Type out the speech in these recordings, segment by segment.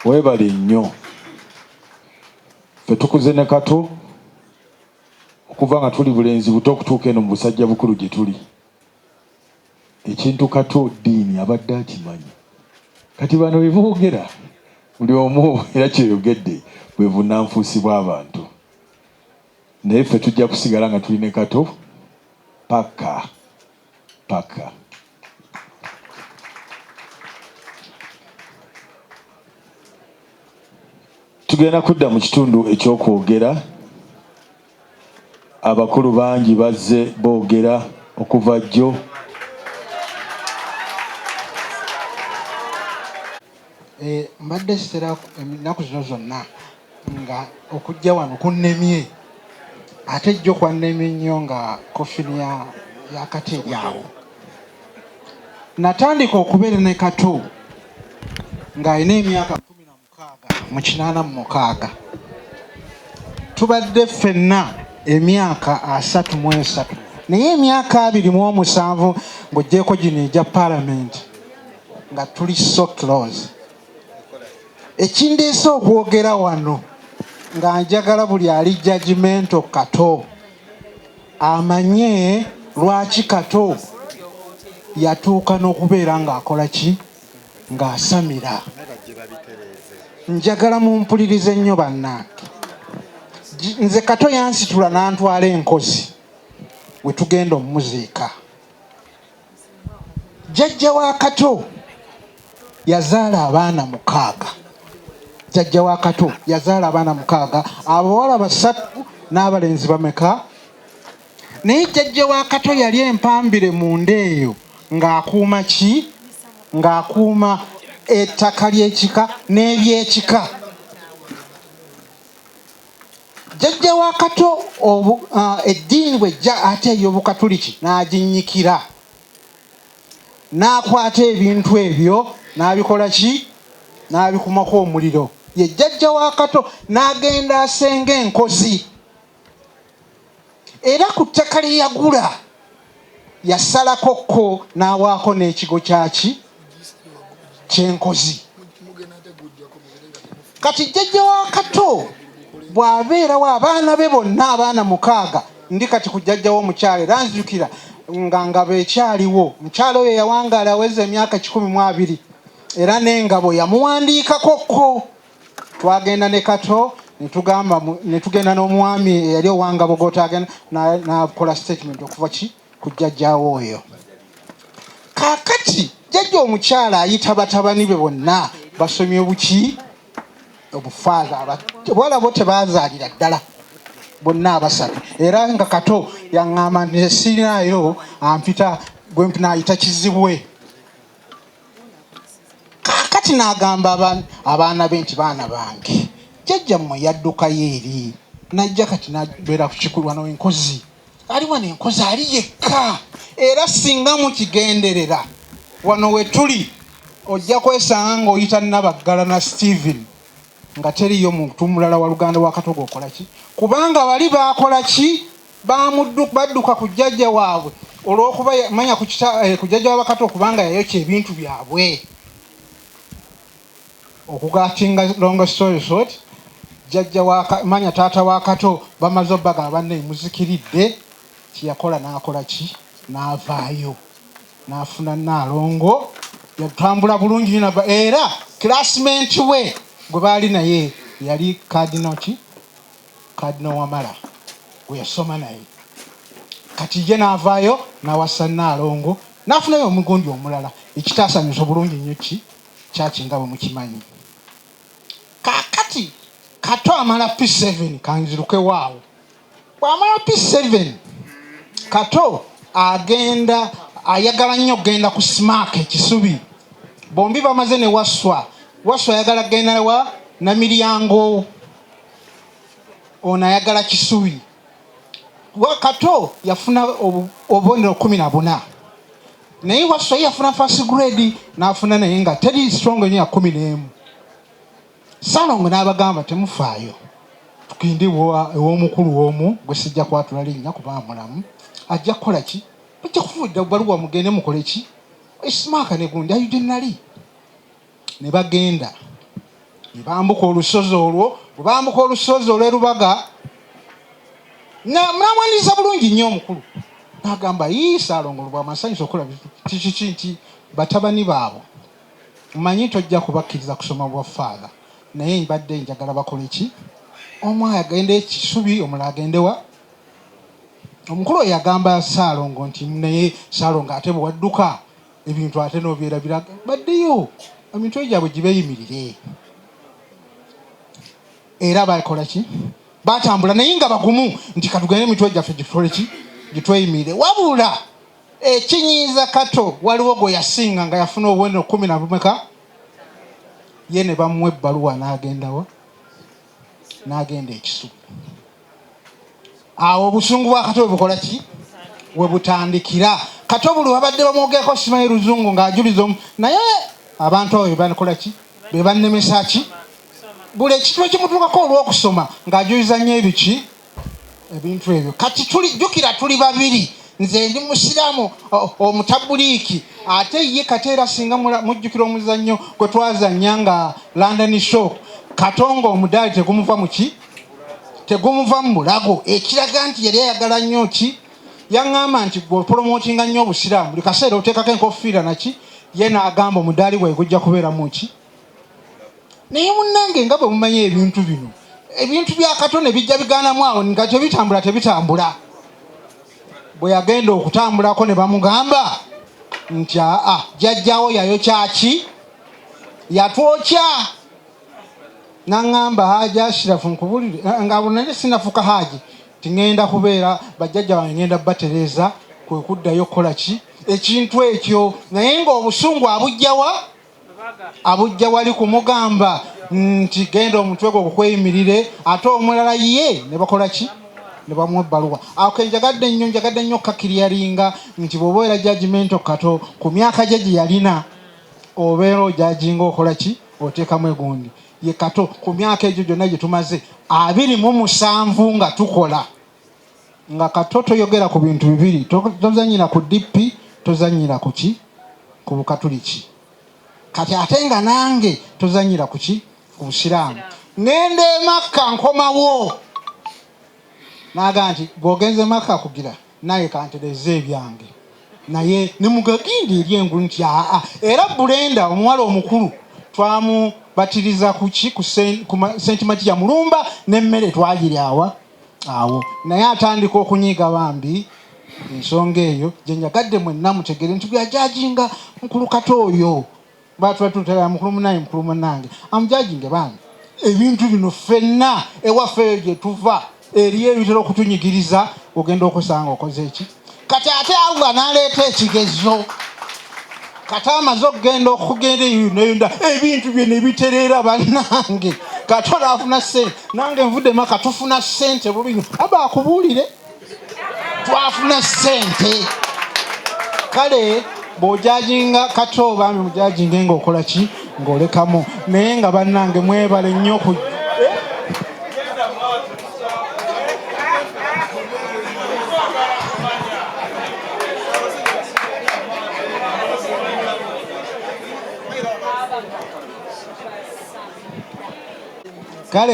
Webale nnyo. Ffe tukuze ne kato okuva nga tuli bulenzi buto okutuuka eno mu busajja bukulu gye tuli. Ekintu kato ddiini abadde akimanyi. Kati bano bye boogera buli omu era kyeyogedde bwe bunnanfuusi bw'abantu. Naye ffe tujja kusigala nga tuli ne kato paka. paka tugenda kudda mu kitundu ekyokwogera abakulu bangi bazze boogera okuva jjo eh, mbadde sitera ennaku zino zonna nga okujja wano kunnemye ate jjo kwannemye nnyo nga kofini ya yakati eri awo natandika okubeera ne kato ng'alina emyaka kumi na mukaaga mu kinaana mu mukaaga tubadde ffenna emyaka asatu mu esatu naye emyaka abiri mu omusanvu ng'ogyeko gino egya palamenti nga tuli so close ekindeese okwogera wano nga njagala buli ali jajimento kato amanye lwaki kato yatuuka n'okubeera ng'akola ki ng'asamira njagala mumpulirize nnyo bannange nze kato yansitula n'antwala enkozi we tugenda omumuziika Jjajja wa Kato yazaala abaana mukaaga. Jjajja wa Kato yazaala abaana mukaaga, abawala basatu n'abalenzi bameka? Naye jjajja wa Kato yali empambire mu nda eyo ng'akuuma ki? Ng'akuuma ettaka ly'ekika n'ebyekika. Jjajja wa Kato obu, uh, eddiini bwejja ate ey'Obukatuliki n'aginnyikira n'akwata ebintu ebyo n'abikola ki n'abikumako omuliro ye jjajja wa Kato n'agenda asenga enkozi era ku ttaka lye yagula yasalako ko n'awaako n'ekigo kyaki kyenkozi kati jjajja wa kato bw'abeerawo abaana be bonna abaana mukaaga ndi kati ku jjajja w'omukyala era nzijukira nga ngabo ekyaliwo mukyala oyo yawangaala aweza emyaka kikumi mu abiri era n'engabo yamuwandiikako ko twagenda ne kato netugamba netugenda n'omwami eyali owanga bogota agenda nakola statement okuva ki ku jjajjaawo oyo kakati jjajja omukyala ayita batabani be bonna basomye obuki obufaaza abawala bo tebazaalira ddala bonna abasatu era nga kato yaŋŋamba nti esirinaayo ampita gwe nayita kizibwe kaakati n'agamba abaana be nti baana bange jjajja mmwe yaddukayo eri najja kati nabeera ku kikulu wano enkozi ali wano enkozi ali yekka era singa mukigenderera wano wetuli ojja kwesanga ng'oyita nabaggala na steven nga teriyo muntu mulala wa luganda wa katogo okola ki kubanga bali baakola ki badduka ku jjajja waabwe olw'okuba manya ku eh, jjajja wabakato okubanga yayokya ebintu byabwe okugatinga longo story short jjajja manya taata wa kato bamaze obbaga abanna emuzikiridde kyeyakola n'akola ki n'avaayo n'afuna naalongo yatambula bulungi naba era classmate we gwe baali naye yali kadinal ki Cardinal Wamala gwe yasoma naye kati ye n'avaayo n'awasa Nnaalongo n'afunayo omugundi omulala ekitaasanyusa obulungi nnyo ki kyaki nga bwe mukimanyi. Kaakati Kato amala P7 kanzirukewo awo. Bw'amala P7 Kato agenda ayagala nnyo okugenda ku Smack e Kisubi. Bombi bamaze ne Wasswa. Wasswa ayagala kugenda wa Namilyango. ono ayagala kisubi wakato yafuna obubonero kumi na buna naye wasai yafuna first grade nafuna naye nga teri strong enyo ya kumi n'emu salongo n'abagamba temufaayo tugende ew'omukulu w'omu gwe sijja kwatula linnya kuba mulamu ajja kukola ki bajja kufuudda baluwa mugende mukole ki esimaaka ne gundi ayudde nali ne bagenda ne bambuka olusozi olwo bwe bambuka olusozi olw'e lubaga namwaniriza bulungi nnyo omukulu n'agamba yii saalongo lubwamasanyusa okulaba kikiki nti batabani baabo mmanyi nti ojja kubakkiriza kusoma bwa faadha naye mbadde njagala bakole ki omu agende ekisubi omula agendewa omukulu oyo agamba saalongo nti naye saalongo ate bwe wadduka ebintu ate nobyerabira baddeyo emitwe gyabwe gibeyimirire era bakola ki batambula naye nga bagumu nti katugende emitwe gyaffe gitole ki gitweyimirire wabula ekinyiiza kato waliwo gwe yasinga nga yafuna obubonero kumi nabumeka ye ne bamuwa ebbaluwa n'agendawa n'agenda ekisuku awo obusungu bwa kato webukola ki webutandikira kato buli wabadde bamwogerako simanyi luzungu ng'ajuliza omu naye abantu abo bebakola ki bebannemesa ki buli ekintu ekimutuukako olw'okusoma ng'ajuliza nnyo ebiki ebintu ebyo kati tulijjukira tuli babiri nze ndi musiraamu omutabuliiki ate ye kati era singa mujjukira omuzannyo gwe twazannya nga london show katonga omudaali tegumuva muki tegumuva mu bulago ekiraga nti yali ayagala nnyo ki yaŋŋamba nti gwe opolomootinga nnyo obusiraamu buli kaseera oteekako enkofiira naki ye n'agamba omudaali bwaye gujja kubeeramu ki naye munnange nga bwe mumanyi ebintu bino ebintu bya kato ne bijja bigaanamu awo nga tebitambula tebitambula bwe yagenda okutambulako ne bamugamba nti aa jajjawo yayo kyaki yatwokya nangamba haji ashirafu nkubulire eh, nga nali sinafuka haji tingenda kubeera bajjajja bange ngenda batereza kwe kuddayo kukola ki ekintu ekyo naye ngaobusungu abujjawa abujja wali kumugamba nti genda omutwe gwe okukweyimirire ate omulala ye ne bakola ki ne bamuwa ebbaluwa ako njagadde nnyo njagadde nnyo okukakiryaringa nti bw'oba era jajimento kato ku myaka gye gye yalina obeera ojaginga okola ki otekamu egundi ye kato ku myaka egyo gyonna gye tumaze abiri mu musanvu nga tukola nga kato toyogera ku bintu bibiri tozanyira ku dp tozanyira ku ki ku bukatuliki kati ate nga nange tozanyira ku ki ku busiraamu ngenda emakka nkomawo naga nti gwogenze makka kugira Naye kantereze ebyange naye nemugagindi eri engulu nti aa era Brenda omuwala omukulu twamubatiriza kuki ku Saint Matia mulumba nemmere twagiryawa awo naye atandika okunyiiga bambi ensonga eyo gyenjagadde mwenna mutegere nti bweyajajinga mukulu kato oyo batwatutera mukulu munaye mukulu munange amujajinge bambi ebintu bino ffenna ewafeeyo gye tuva eriyo ebitera okutunyigiriza ogenda okusanga okoze eki kati ate allah naleeta ekigezo kati amaze okugenda okugenda eyonayonda ebintu byona ebitereera bannange kati olaafuna sente nange nvudde maka tufuna sente bubinyo aba akubuulire twafuna sente kale bwojajinga kata obambi mujajinge nga okola ki ngaolekamu naye nga bannange mwebale nnyo ku kale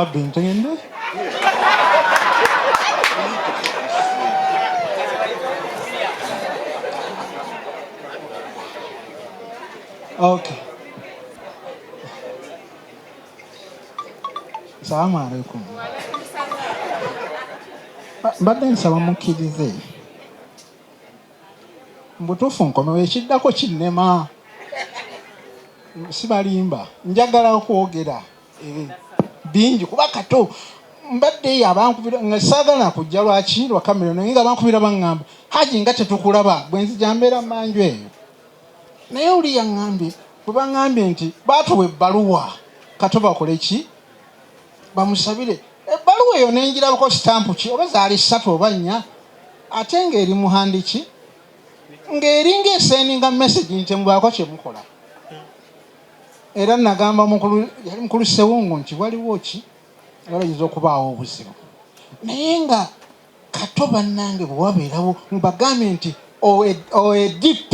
abbi ntende Okay. Salamu alaikum. Mbadde nsaba mukkirize. Mbutuufu nkomewo ekiddako kinnema. Sibalimba njagala okwogera eh, bingi kuba kato mbadde eyo abankubira nga saagala kujja lwaki lwa kamera naye nga abankubira baŋŋamba haji nga tetukulaba bwe nzija mbeera manju eyo naye oli yaŋŋambye bwe baŋŋambye nti baatuwa ebbaluwa kato bakole ki bamusabire ebbaluwa eyo nenjirabako sitampu ki oba zaali ssatu oba nnya ate ng'eri muhandiki ng'eringa esendinga message nti mubaako kye mukola era nagamba mukulu yali mukulu sewungu nti waliwo ki era oyinza okubaawo obuzibu naye nga Kato banange bwewabeerawo mbagambye nti oe DP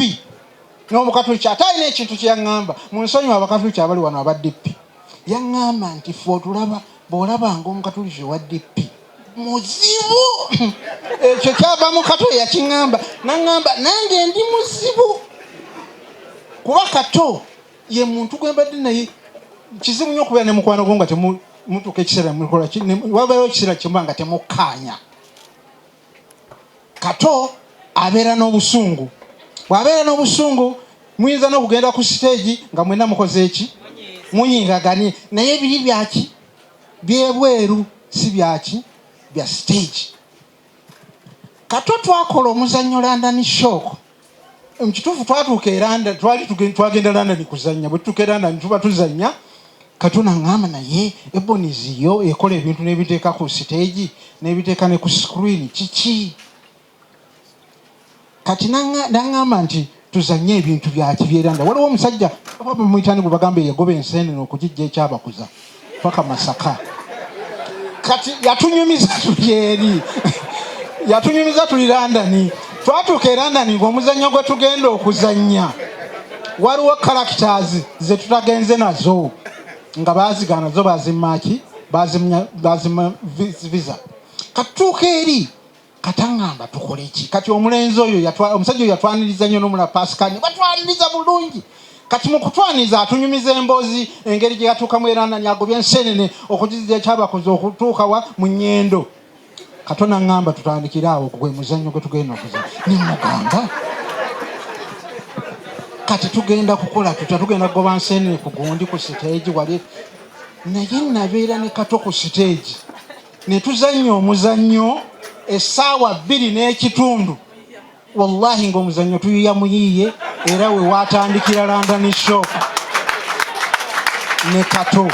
n'omukatuliki ate alina ekintu kyeyangamba munsonyiwe abakatuliki abali wano aba DP yangamba nti fe otulaba bwolabanga omukatuliki owa DP muzibu ekyo kyava mu kato yakingamba nangamba nange ndi muzibu kuba kato ye muntu gwe mbadde naye kizibu nnyo okubeera ne mukwano gwo nga temutuuka ekiseera mukola wabeerawo ekiseera kimuba nga temukkaanya kato abeera n'obusungu bw'abeera n'obusungu muyinza n'okugenda ku siteegi nga mwena mukoze eki muyingaganye naye biri byaki byebweru si byaki bya siteegi kato twakola omuzannyo landani shooko Mu kituufu twatuuka e London, twali twagenda London kuzannya. Bwe tutuuka e London tuba tuzannya, Katonda ng'ama naye Ebonies yo ekola ebintu n'ebiteeka ku siteegi n'ebiteeka ne ku screen kiki? Kati nang'amba nti tuzanye ebintu byaki byeranda waliwo omusajja oba bamuyitani gwe bagamba eyagoba enseenene okugijja ekyabakuza paka masaka kati yatunyumiza tulyeri yatunyumiza tuli landani twatuuka e landani ngaomuzannyo gwe tugenda okuzannya waliwo characters ze tutagenze nazo nga bazigaana zo bazimaki bazimya visa katuuka eri katangamba tukole ki kati omulenzi oyo yatwa omusajja oyo yatwaniriza nnyo nomula pascal ne batwaniriza bulungi kati mu kutwaniriza atunyumiza emboozi engeri gye yatuukamu era nani agobye enseenene okugizira ekyabakoze okutuuka wa mu nyendo katona ngamba tutandikire awo gwe muzannyo gwe tugenda okuza ne mugamba kati tugenda kukola tutya tugenda kugoba nseenene ku gundi ku siteegi wali naye nabeera ne kato ku siteegi ne tuzannya omuzannyo essaawa bbiri n'ekitundu wallahi ng'omuzannyo tuyiya muyiiye era we waatandikira london shop ne kato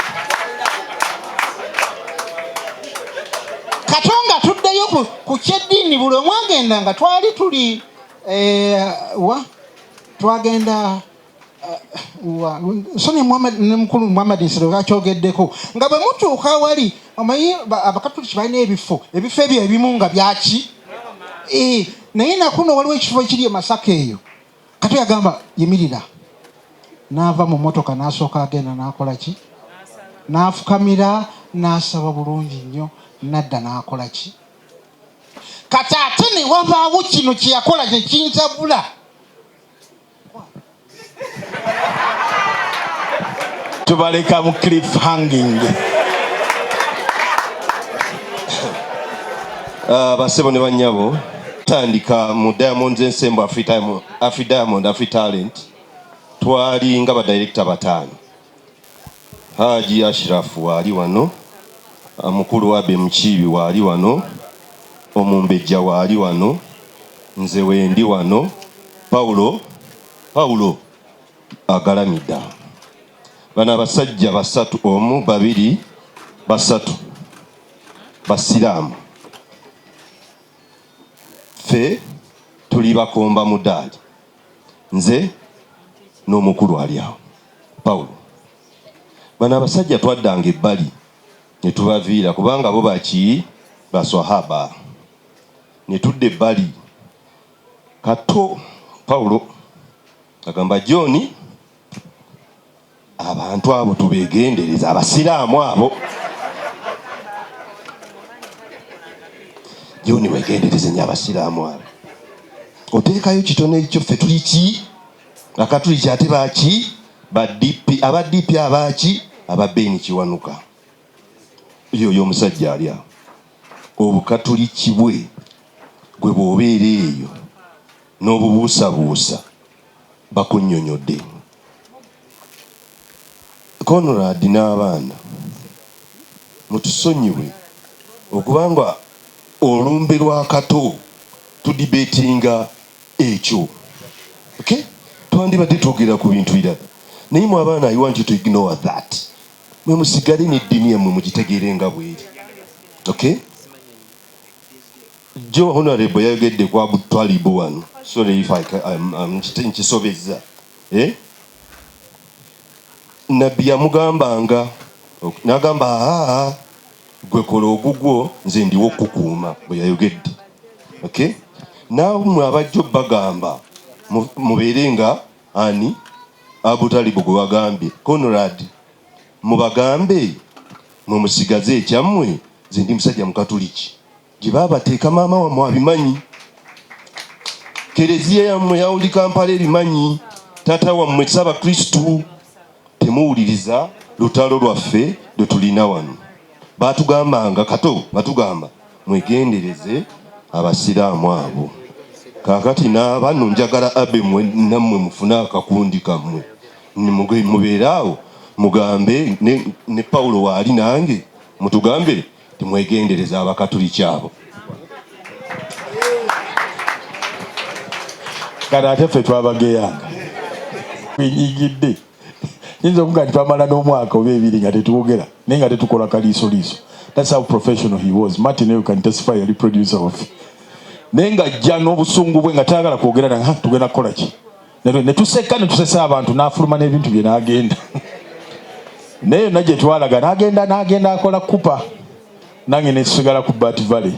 kato nga tuddeyo ku kyeddiini buli omwagenda nga twali tuli eh, wa twagenda nsonyi ne mukulu muhammad nsiro bakyogeddeko nga bwe mutuuka awali omanyi abakatuliki balina ebifo ebifo ebyo ebimu nga byaki eh, naye nakuno waliwo ekifo ekiri e masaka eyo kati yagamba yimirira n'ava mu motoka n'asooka agenda n'akola ki n'afukamira n'asaba bulungi nnyo nadda n'akola ki kati ate ne wabaawo kino kye yakola kye kintabula tubaleka mu cliff hanging ah, basebo ne banyabo tandika mu diamond ensembo afri diamond afri talent twali nga badirekita bataano Haji Ashiraf waali wano, mukulu Abe Mukiibi waali wano, Omumbejja waali wano, nze wendi wano, Paulo Paulo agalamidde awo. Bano abasajja basatu, omu, babiri, basatu Basiraamu, ffe tuli bakomba mudaali. nze n'omukulu ali awo Pawulo. Bano abasajja twaddanga ebbali ne tubaviira kubanga bo baki baswahaba ne tudda ebbali. Kato Pawulo agamba Jooni abantu abo tubegendereza abasiraamu abo joni wegendereze nyo abasiraamu abo oteekayo kitone ekyo ffe tuli ki akatuli kyate baki badp aba dp abaki aba beni kiwanuka yo oyo omusajja ali awo obukatuli kibwe gwe bwobeera eyo n'obubuusabuusa bakunnyonyodde Conrad n'abaana mutusonyiwe okuba nga olumbe lwa Kato tudibetinga ekyo ok twandibadde twogera ku bintu birala naye mwe abaana I want you to ignore that mwe musigale ne ddini yammwe mugitegeere nga bweri ok. Jjo Honorable yayogedde ku Abu Twalibu wano, sorry if I, I'm, I'm, nkisobezza eh? Nabbi yamugambanga nagamba aa gwe kola ogugwo nze ndiwo okukuuma bwe yayogedde okay? Namwe abajjo bagamba mubeere nga ani Abu Talibu gwe wagambye Conrad, mubagambe mwe musigaze ekyammwe, nze ndi musajja Mukatuliki. gye baabateeka maama wammwe abimanyi kereziya yammwe yawuli kampala ebimanyi taata wammwe saba kristu temuwuliriza lutalo lwaffe lwe tulina wano batugambanga kato batugamba mwegendereze abasiraamu abo kakati nabano njagala abe nammwe mufune akakundi kammwe mubeere awo mugambe ne, ne paulo waali nange mutugambe Timwegendereza abakatuliki abo kati ate ffe twabageyanga enyigidde yinza okuga nti twamala n'omwaka oba ebiri nga tetwogera naye nga tetukola kaliisoliiso thats how professional he was martin eyo can testify yali producer waffe naye ng'ajja n'obusungu bwe nga tayagala kwogera nange tugenda kukola ki ne tuseka ne tusesa abantu n'afuluma n'ebintu bye n'agenda naye yonna gye twalaga n'agenda n'agenda akola kupa nange ne tusigala ku bat valley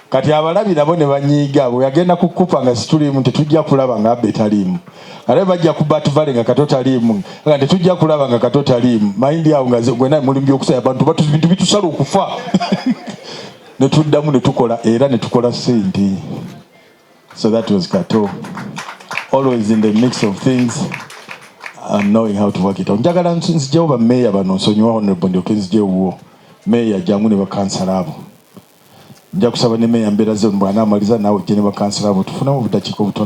kati abalabi nabo ne banyiiga bwe yagenda ku kupa nga situliimu tetujja kulaba nga abbe taliimu ate bajja ku bat valley nga kato taliimu nga tetujja kulaba nga kato taliimu mayindi awo nga gwena mulimu gyokusaya abantu bintu bitusala okufa ne tuddamu ne tukola era ne tukola sente So that was Kato. Always in the mix of things and um, knowing how to work it out. Njagala nzijewo ba mayor bano nsonyiwa honorable ndyoke nzijewo wuwo. Mayor jangu ne bakansala abo. Nja kusaba ne mayor mbeera zino bw'anaamaliza naawe ojje ne bakansala abo tufunamu obudakiika obutono.